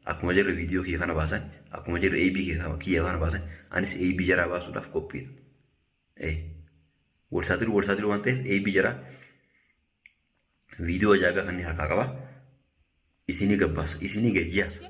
Akkuma jarri viidiyoo kiyya kana baasan, akkuma jarri AB kiyya kana baasan, anis AB jaraa baasuudhaaf qophiidha. Ee, wal saaxilu wal saaxilu waan ta'eef AB jaraa viidiyoo ajaa'ibaa kanneen harkaa qaba. Isinii gabbaasa, isinii gayyaasa.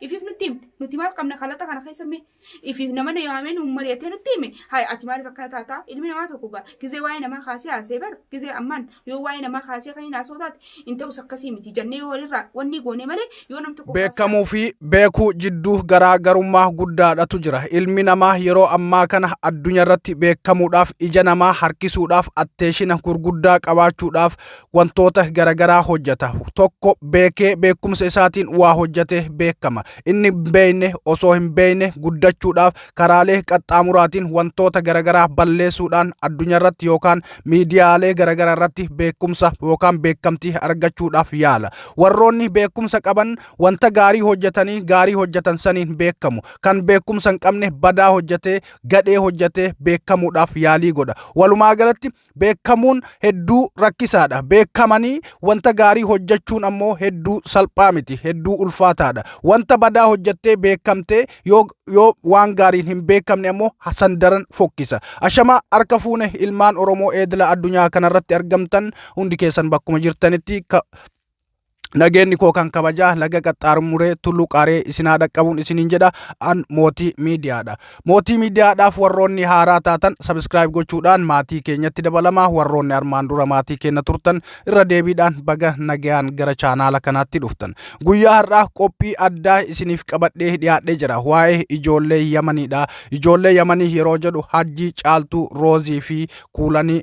Ifiif nutti himte. Nuti maal qabna kalaxa kana keessa mee Ifi nama na yaamee nuun mari'atee nutti hime hayi ati maaliif akkana taataa ilmi namaa tokko gaa gizee waa'ee namaa kaasee haasee bar gizee ammaan yoo waa'ee namaa kaasee kan hin haasoo taate hin ta'us akkasii miti jannee yoo walirraa wanni goonee malee yoo nam tokko Beekamuu fi beekuu jidduu garaa garummaa guddaadhatu jira. Ilmi namaa yeroo ammaa kana addunyaa irratti beekamuudhaaf ija namaa harkisuudhaaf atteeshina gurguddaa qabaachuudhaaf wantoota garagaraa hojjeta. Tokko beekee beekumsa isaatiin waa hojjetee beekama. inni hin beekne osoo hin beekne guddachuudhaaf karaalee qaxxaamuraatiin wantoota garaagaraa balleessuudhaan addunyaa irratti yookaan miidiyaalee garaagaraa irratti beekumsa yookaan beekamtii argachuudhaaf yaala. Warroonni beekumsa qaban wanta gaarii hojjetanii gaarii hojjetan saniin beekamu. Kan beekumsa hin qabne badaa hojjetee gadhee hojjetee beekamuudhaaf yaalii godha. Walumaa galatti Beekamuun hedduu rakkisaadha. Beekamanii wanta gaarii hojjechuun ammoo hedduu salphaa miti. Hedduu ulfaataadha. Wanta badaa hojjettee beekamtee yoo, yoo waan gaariin hin beekamne ammoo san daran fokkisa. Ashamaa harka fuune ilmaan Oromoo eedila addunyaa kanarratti argamtan hundi keessan bakkuma jirtanitti ka- Nageenni koo kan kabajaa laga qaxxaarmuree tulluu qaaree isinaa dhaqqabuun isiniin jedha an mootii miidiyaadha. Mootii miidiyaadhaaf warroonni haaraa taatan sabiskiraayib gochuudhaan maatii keenyatti dabalamaa warroonni armaan dura maatii keenya turtan irra deebiidhaan baga nagayaan gara chaanaala kanaatti dhuftan. Guyyaa har'aa qophii addaa isiniif qabadhee dhiyaadhee jira waa'ee ijoollee Yamaniidha. Ijoollee Yamanii yeroo jedhu Hajjii, Caaltuu, Roozii fi Kuulanii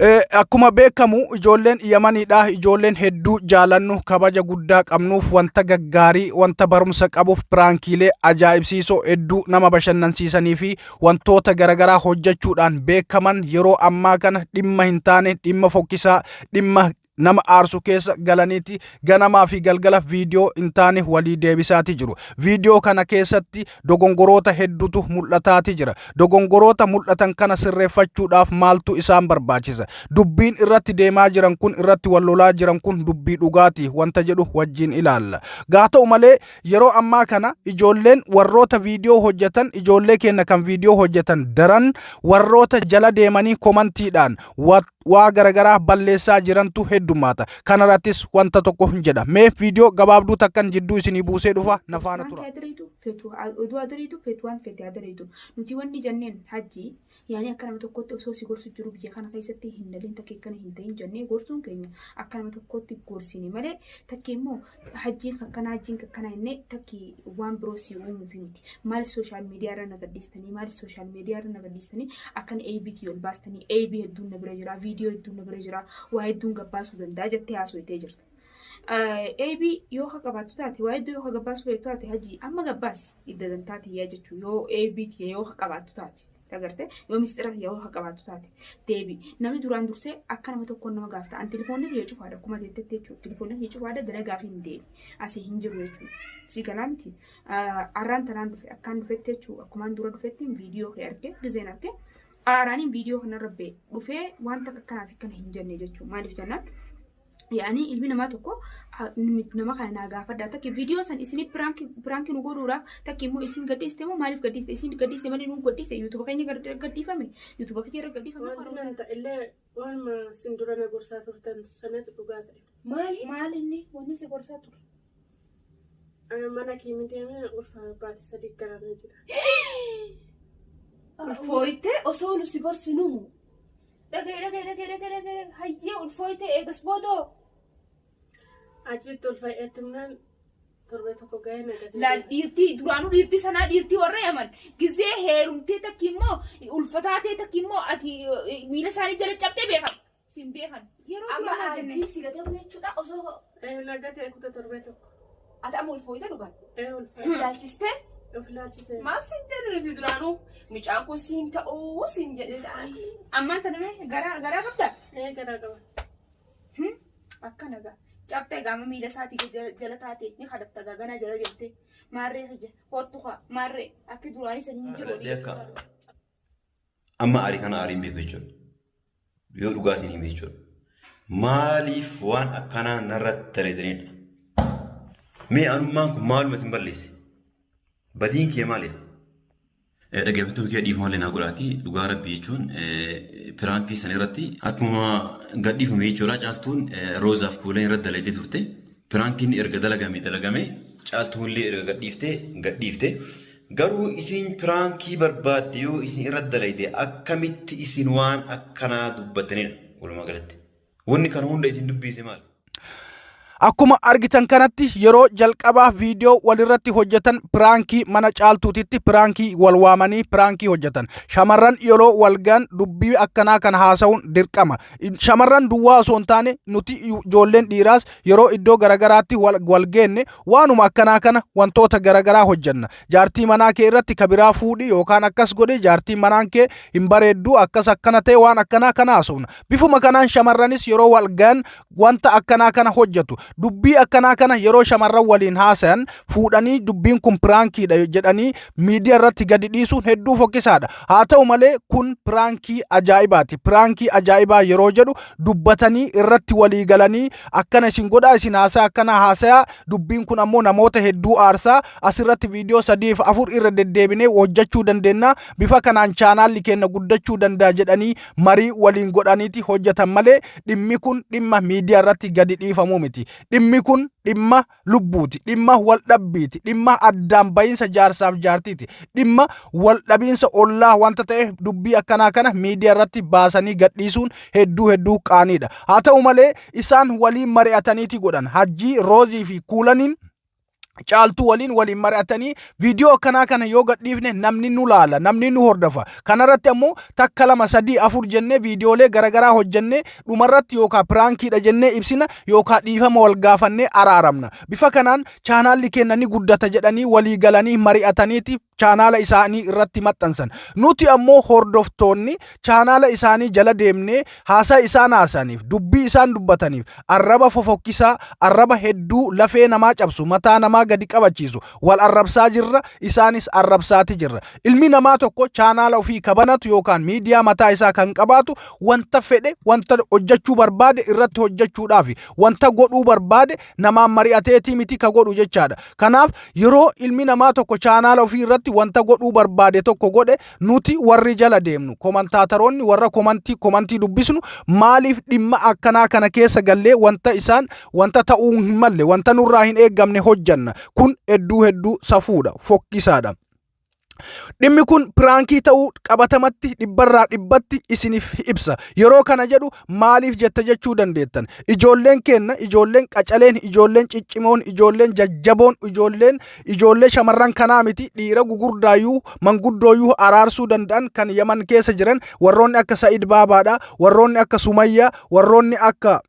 Eh, Akkuma beekamu ijoolleen yamaniidha ijoolleen hedduu jaalannu kabaja guddaa qabnuuf wanta gaggaarii wanta barumsa qabuuf piraankiilee ajaa'ibsiisoo hedduu nama bashannansiisanii fi wantoota garaagaraa hojjechuudhaan beekaman yeroo ammaa kana dhimma hin taane dhimma fokkisaa dhimma nama aarsu keessa galaniiti ganamaa fi galgala viidiyoo hin taane walii deebisaati jiru. Viidiyoo kana keessatti dogongoroota hedduutu mul'ataati jira. Dogongoroota mul'atan kana sirreeffachuudhaaf maaltu isaan barbaachisa? Dubbiin irratti deemaa jiran kun irratti wal lolaa jiran kun dubbii dhugaati wanta jedhu wajjin ilaalla. Gaa ta'u malee yeroo ammaa kana ijoolleen warroota viidiyoo hojjetan ijoollee keenya kan viidiyoo hojjetan daran warroota jala deemanii komantiidhaan wat waa garagaraa balleessaa jirantu heddummaata. Kanarrattis wanta tokko hin jedha. Mee viidiyoo gabaabduu takkan jidduu isinii buusee dhufa na faana Wanti tura. adiriitu fetu oduu adiriitu fetu waan fete adiriitu nuti wanni janneen hajji yaani akka nama tokkotti osoo si gorsu jiru biyya kana keessatti hin daliin takkee kana hin ta'in jannee gorsuun keenya akka nama tokkotti gorsine malee takkee immoo hajjiin kakkanaa hajjiin kakkanaa jennee takki waan biroo si uumuufi miti. Maaliif sooshaal miidiyaa irra na gadhiistanii maaliif sooshaal miidiyaa irra na gadhiistanii akkan ABT ol baastanii AB hedduun na bira jira viidiyoo hedduun na bira jira waa hedduun gabbaasuu danda'a jettee haasofitee jirta. AB yoo ka qabaattu taate waa hedduu yoo ka gabbaasuu feetu taate hajji amma gabbaasi idda dantaa tiyyaa jechuun yoo ABT yoo ka qabaattu taate. Agartee yoo mistira kiyya yoo qabaattu taate deebi namni duraan dursee akka nama tokkoon nama gaafata an telefoonni kiyya cufaadha akkuma jettetti jechuudha telefoonni kiyya cufaadha gana gaafi hin deebi asii hin jiru jechuudha sii galaa miti arraan tanaan dhufe akkaan dhufetti jechuudha akkumaan dura dhufetti viidiyoo kee arge gizeen arge aaraaniin viidiyoo kanarra bee dhufee wanta akkanaaf akkana hin jenne jechuudha maaliif jennaan yaani ilmi namaa tokko ah, nami- nama kana naa gaafadha takki viidiyoo san isin piraanki nu godhuudhaaf takki immoo isin gadhiiste moo maaliif gadhiiste isin gadhiiste malee nu gadhiiste yuutuuba keenya gar- gadhiifame yuutuuba keenya irra gadhiifame Wanti nan ta'ellee waanuma isin dura na gorsaa turtan sanatu dhugaa ta'e. Maali? maal inni wanni si gorsaa ture mana kiimi deemee ulfaa baate sadii garana jira. Ulfooyte osoo nu si gorsinu dhagee dhagee dhagee dhagee dhagee hayyee ulfooyte eegas boodoo Achitti ulfa eetumnaan torbee tokko ga'ee nagatee. laal dhiirtii duraanuu dhiirtii sanaa dhiirtii warra yaman gizee heerumtee takki immoo ulfataa ta'e takki immoo ati eh, miila isaanii jala cabxee beekama. Siin beekan. Yeroo Amma duraa jenne. aartii si gatee bula jechuudha osoo Ee lagatee kuta torbee tokko. ati amma ulfooyte dhugaan. Ee ulfa. Ilaalchistee Of ilaalchisee. maal siin jedhu nuti duraanuu mucaan kun siin ta'uu siin jedhee ta'an. Ammaan tana mee garaa garaa qabda. Ee garaa qaba. Hmm? Akkana gaa. Cabxee gaama miila isaatii gad jala- jala taate ni kadhatta gaa ganaa jala deemtee. Maarree kiyya hoottu kaa maarree akki duraanii sanii hin jiru. Kadhadhee akka. Amma aarii kana aariin beeku jechuudha. Yoo dhugaa isin hime jechuudha. Maaliif waan akkanaa narra dalaydaniidha? Mee anummaan kun maaluma isin balleesse? Badiin kee maali? Dhaggeeffattoota kee dhiifama illee naa godhaati. Dhugaa rabbii jechuun piraankii sana irratti akkuma gadhiifame jechuudha. Caaltuun roozaaf kuulan irratti dalaydee turte. Piraankiin erga dalagame dalagame caaltuun illee erga gadhiifte gadhiifte. Garuu isiin piraankii barbaadde yoo isin irra dalayde akkamitti isin waan akkanaa dubbattanidha walumaa galatti. Wanni kana hunda isin dubbiise maali? Akkuma argitan kanatti yeroo jalqabaaf viidiyoo walirratti hojjetan piraankii mana caaltuutitti piraankii wal waamanii piraankii hojjetan. Shamarran yeroo wal gaan dubbii akkanaa kan haasa'uun dirqama. Shamarran duwwaa osoo hin taane nuti ijoolleen dhiiraas yeroo iddoo garagaraatti wal geenne Waanuma akkanaa kana wantoota garagaraa hojjanna. Jaartii manaa kee irratti ka biraa fuudhi yookaan akkas godhi jaartiin manaan kee hin bareeddu akkas akkana ta'e waan akkanaa kana haasofna. Bifuma kanaan shamarranis yeroo wal gahan wanta akkanaa kana hojjatu. Dubbii akkanaa kana yeroo shamarran waliin haasayan fuudhanii dubbiin kun piraankiidha jedhanii miidiyaa irratti gadi dhiisuun hedduu fokkisaadha. Haa ta'u malee kun piraankii ajaa'ibaati. Piraankii ajaa'ibaa yeroo jedhu dubbatanii irratti walii galanii akkana isin godhaa isin haasaa akkana haasayaa dubbiin kun ammoo namoota hedduu aarsaa asirratti viidiyoo sadiif afur irra deddeebinee hojjechuu dandeenya bifa kanaan chaanaalli keenya guddachuu danda'a jedhanii marii waliin godhaniiti hojjetan malee dhimmi kun dhimma miidiyaa irratti gadi dhiifamuu miti dhimmi kun dhimma lubbuuti, dhimma waldhabbiiti, dhimma addaan ba'iinsa jaarsaaf jaartiiti, dhimma waldhabiinsa ollaa wanta ta'eef dubbii akkanaa kana miidiyaa irratti baasanii gadhiisuun hedduu hedduu qaaniidha. Haa ta'u malee isaan waliin mari'ataniiti godhan. Hajjii Roozii fi Kuulaniin caaltuu waliin waliin mari'atanii Viidiyoo akkanaa kana yoo gadhiifne namni nu laala, namni nu hordofa. Kanarratti ammoo takka lama sadii afur jennee viidiyoolee garaagaraa hojjennee dhumarratti yookaan piraankiidha jennee ibsina yookaan dhiifama wal gaafannee araaramna. Bifa kanaan chaanaalli keenya ni guddata jedhanii walii galanii mari'ataniiti chaanaala isaanii irratti maxxansan. Nuti ammoo hordoftoonni chaanaala isaanii jala deemnee haasaa isaan haasaniif, dubbii isaan dubbataniif, arraba fofokkisaa, arraba hedduu lafee namaa cabsu, mataa namaa gadi qabachiisu, Wal arrabsaa jirra, isaanis arrabsaati jirra. Ilmi namaa tokko chaanaala ofii kabanatu yookaan miidiyaa mataa isaa kan qabaatu wanta fedhe, wanta hojjechuu barbaade irratti hojjechuudhaaf wanta godhuu barbaade namaan mari'ateetii miti ka godhu jechaadha. Kanaaf yeroo ilmi namaa tokko chaanaala ofii irratti wanta godhuu barbaade tokko godhe Nuti warri jala deemnu komantaataroonni warra komantii komantii dubbisnu maaliif dhimma akkanaa kana keessa gallee wanta isaan wanta ta'uu hin malle wanta nurraa hin eeggamne hojjanna kun hedduu hedduu safuudha fokkisaadha. Dhimmi kun piraankii ta'uu qabatamatti dhibbarraa dhibbatti isiniif ibsa. Yeroo kana jedhu maaliif jetta jechuu dandeettan. Ijoolleen keenna, ijoolleen qacaleen, ijoolleen ciccimoon, ijoolleen jajjaboon, ijoolleen ijoollee shamarran kanaa miti dhiira gugurdaayyuu manguddooyyuu araarsuu danda'an kan Yaman keessa jiran warroonni akka Sa'id Baabaadha, warroonni akka Sumayyaa, warroonni akka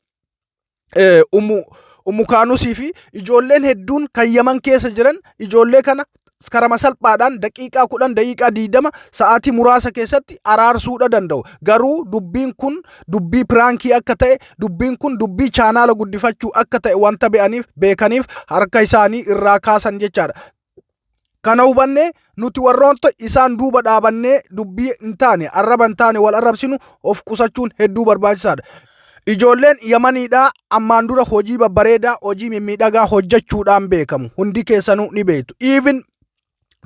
eh, ummu ummu kaanusii fi ijoolleen hedduun kan yaman keessa jiran ijoollee kana karama salphaadhaan daqiiqaa kudhan daqiiqaa diidama sa'aatii muraasa keessatti araarsuudha danda'u garuu dubbiin kun dubbii piraankii akka ta'e dubbiin kun dubbii chaanaala guddifachuu akka ta'e wanta be'aniif beekaniif harka isaanii irraa kaasan jechaadha Kana hubannee nuti warroota isaan duuba dhaabannee dubbii hin taane arraba hin taane wal arrabsinu of qusachuun hedduu barbaachisaadha. Ijoolleen Yamaniidhaa ammaan dura hojii babbareedaa hojii mimmiidhagaa hojjechuudhaan beekamu. Hundi keessanuu ni beektu. Even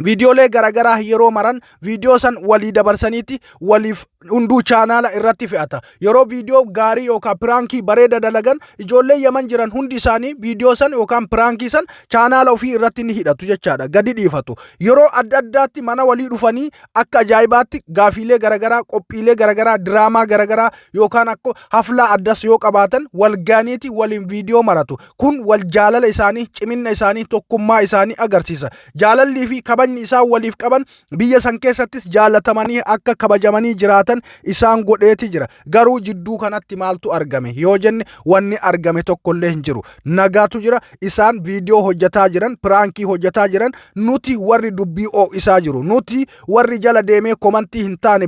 viidiyoolee garaagaraa yeroo maran viidiyoo san walii dabarsaniiti waliif hunduu chaanaala irratti fe'ata. Yeroo viidiyoo gaarii yookaan piraankii bareeda dalagan ijoollee yaman jiran hundi isaanii viidiyoo san yookaan piraankii san chaanaala ofii irratti ni hidhatu jechaadha. Gadi dhiifatu. Yeroo adda addaatti mana walii dhufanii akka ajaa'ibaatti gaafiilee garagaraa, qophiilee garagaraa, diraamaa garagaraa yookaan akka haflaa addas yoo qabaatan wal gaaniiti waliin viidiyoo maratu. Kun wal jaalala isaanii, ciminna isaanii, tokkummaa isaanii agarsiisa. Jaalallii fi kabajni isaan waliif qaban biyya san keessattis jaallatamanii akka kabajamanii jiraatan isaan godheeti jira. Garuu jidduu kanatti maaltu argame yoo jenne wanni argame tokkollee hin jiru. Nagaatu jira isaan viidiyoo hojjetaa jiran piraankii hojjetaa jiran nuti warri dubbii oo'isaa jiru nuti warri jala deemee komantii hin taane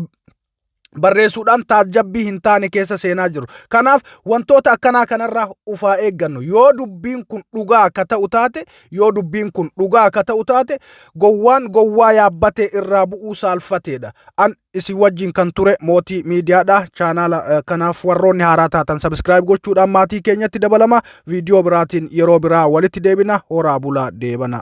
barreessuudhaan taajjabbii hin taane keessa seenaa jiru. Kanaaf wantoota akkanaa kanarraa ufaa eeggannu yoo dubbiin kun dhugaa akka ta'u taate yoo dubbiin kun dhugaa akka ta'u taate gowwaan gowwaa yaabbatee irraa bu'uu saalfateedha. An isin wajjin kan ture mootii miidiyaadha. Chaanaala eh, kanaaf warroonni haaraa taatan sabiskiraayib gochuudhaan maatii keenyatti dabalama. Viidiyoo biraatiin yeroo biraa walitti deebina. Horaa bulaa deebana.